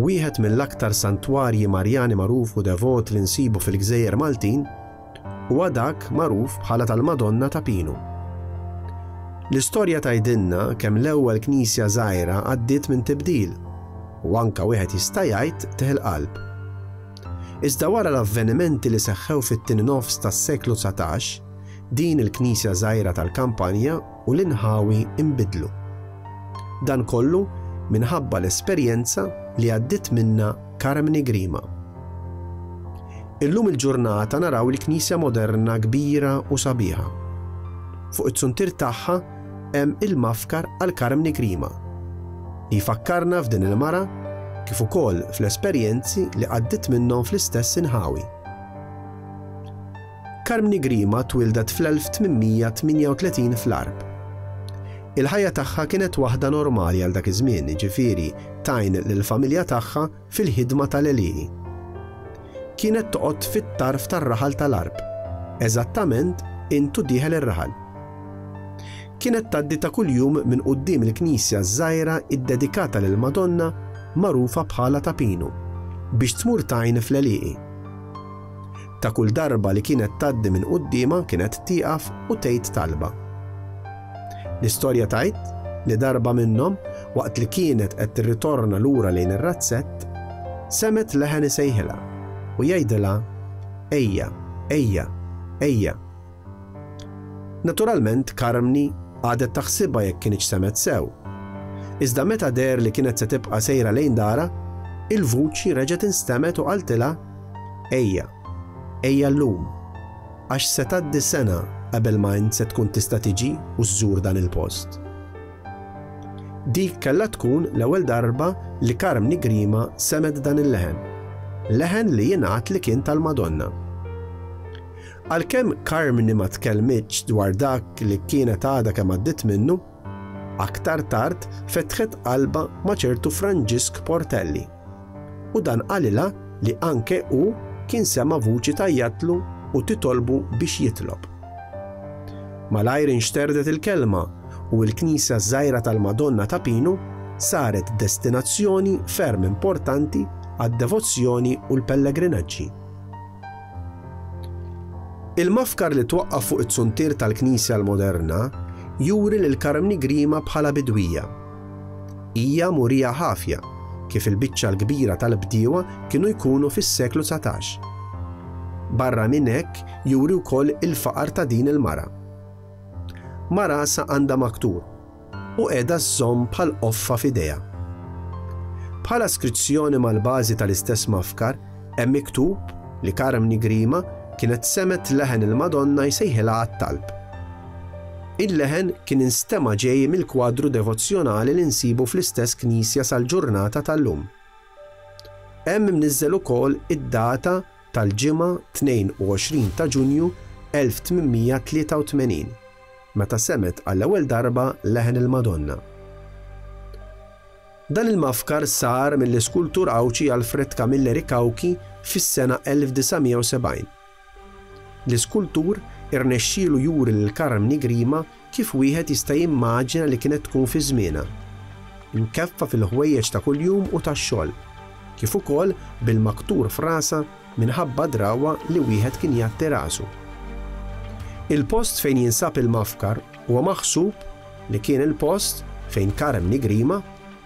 Wieħed mill-aktar santwarji Marjani magħruf u devot li nsibu fil-gżejjer Maltin huwa dak magħruf bħala tal-Madonna ta' Pinu. L-istorja tgħidilna kemm l-ewwel knisja żgħira għaddiet minn tibdil u anka wieħed jista' jgħid teħ il-qalb. Iżda wara l-avvenimenti li seħħew fit-tieni nofs tas-seklu 19, din il-knisja żgħira tal-kampanja u l-inħawi nbidlu. Dan kollu minħabba l-esperjenza li għaddiet minnha Carmni Grima. Illum il-ġurnata naraw il-Knisja moderna kbira u sabiħa. Fuq it-suntir tagħha hemm il-mafkar għal Carmni Grima li jfakkarna f'din il-mara kif ukoll fl-esperjenzi li għaddit minnhom fl-istess inħawi. Carmni Grima twieldet fl-1838 fl-Għarb. Il-ħajja tagħha kienet waħda normali għal dak iż-żmien, jiġifieri tgħin lill-familja tagħha fil-ħidma tal-għelieqi. Kienet toqgħod fit-tarf tar-raħal tal-Għarb, eżattament int u dieħel ir-raħal. Kienet tgħaddi ta' kuljum minn quddiem il-knisja ż-żgħira ddedikata lill-Madonna magħrufa bħala ta' Pinu biex tmur tgħin fl-għelieqi. Ta' kull darba li kienet tgħaddi minn quddiemha kienet tieqaf u tgħid talba. L-istorja tgħid li darba minnhom, waqt li kienet qed tirritorna lura lejn ir-razzett, semgħet leħen isejħilha u jgħidilha, Ejja, ejja, ejja, Naturalment Carmni qagħdet taħsibha jekk kinitx semgħet sew. Iżda meta deher li kienet se tibqa' sejra lejn darha, il-vuċi reġgħet instemgħet u qaltilha, Ejja, ejja llum, għax se tgħaddi sena qabel ma int se tkun tista' tiġi u żżur dan il-post. Dik kellha tkun l-ewwel darba li Carmni Grima semgħet dan il-leħen, leħen li jingħad li kien tal-Madonna. Għalkemm Carmni ma tkellmitx dwar dak li kienet għadha kemm għaddiet minnu, aktar tard fetħet qalbha ma' ċertu Franġisk Portelli u dan qalilha li anke hu kien sema' vuċi tgħajjatlu u titolbu biex jitlob. Malajr inxterdet il-kelma u l-knisja żgħira tal-Madonna ta' Pinu saret destinazzjoni ferm importanti għad-devozzjoni u l-pellegrinaġġi. Il-mafkar li twaqqaf fuq it-suntier tal-knisja l-moderna juri lil Karmni Grima bħala bidwija. Hija murija ħafja, kif il-biċċa l-kbira tal-bdiewa kienu jkunu fis-seklu dsatax. Barra minn hekk juri wkoll il-faqar ta' din il-mara. Marasa għandha maktur. u qiegħda żżomm bħal qoffa f'idejha. Bħala skrizzjoni mal-bażi tal-istess mafkar hemm miktub li Carmni Grima kienet semgħet leħen il-Madonna jsejħilha għat-talb. Il-leħen kien instema' ġej mill-kwadru devozzjonali li nsibu fl-istess knisja sal-ġurnata tal-lum. Hemm imniżżel ukoll id-data tal-Ġimgħa 22 ta' Ġunju 1883, meta semgħet għall-ewwel darba leħen il-Madonna. Dan il-mafkar sar mill-iskultur Għawdxi Alfred Camilleri Cauchi fis-sena 1970. L-iskultur irnexxielu juri lil Carmni Grima Kif wieħed jista' jimmaġina li kienet tkun fi żmienha? Imkeffa fil-ħwejjeġ ta' kuljum u tax-xogħol, kif ukoll bil-maktur f'rasha minħabba d-drawwa li wieħed kien jgħatti rasu. Il-post fejn jinsab il-mafkar huwa maħsub li kien il-post fejn Carem Nigrima,